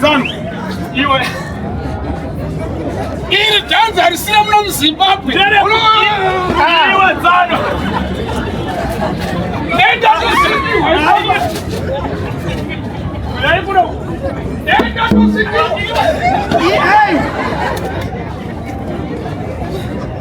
Zanu, iwe iri dhanzi harisina muno muzimbabwe iwe zanu enda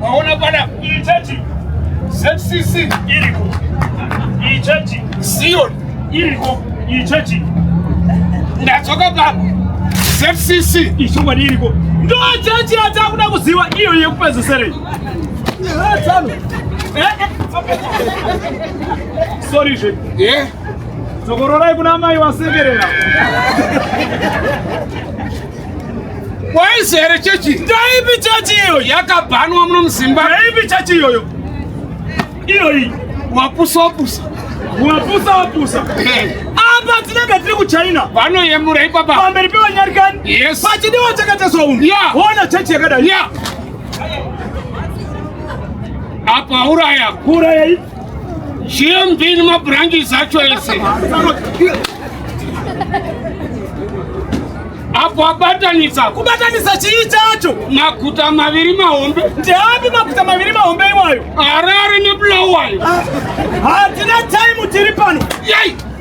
Waona bwana, iyi church ZCC iriko, iyi church Zion iriko, iyi church ndadzoka papa ZCC ichokwadi iriko, ndo church yatakuda kuziva iyo yekupezeserei sorry zve yeah. dzokororai kuna mai vasekerera Waizi here chechi? Ndaipi chechi iyo yakabhanwa muno muZimba? Ndaipi chechi iyoyo? Iyo iyi wapusa wapusa. Wapusa wapusa. Eh. Apa tinenge tiri kuChina. Vanoyemura ipapa. Pamberi pevanyarikani. Yes. Pachidiwa chakateswa umu. Yeah. Ona chechi yakadai. Yeah. Apa uraya. Uraya. Chiembini mabranches acho ese apo abatanisa kubatanisa chii chacho maguta maviri mahombe ndeapi maguta maviri mahombe iwayo harare nebulawayo ah, hatina time tiri pano yai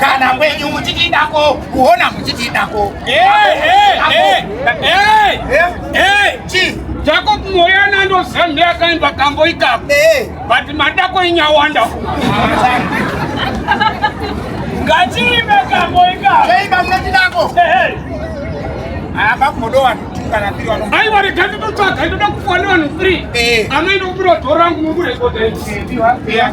kana wenyu muchitidako kuona muchitidako jako mweya nandozanhi akaenda kambo ikako but madako inyawanda ngatiime kambo ikako aiwa rega nditotsvaga ndoda kufonera vanhu free anoenda kubira dhorangu mukurekodaiiaa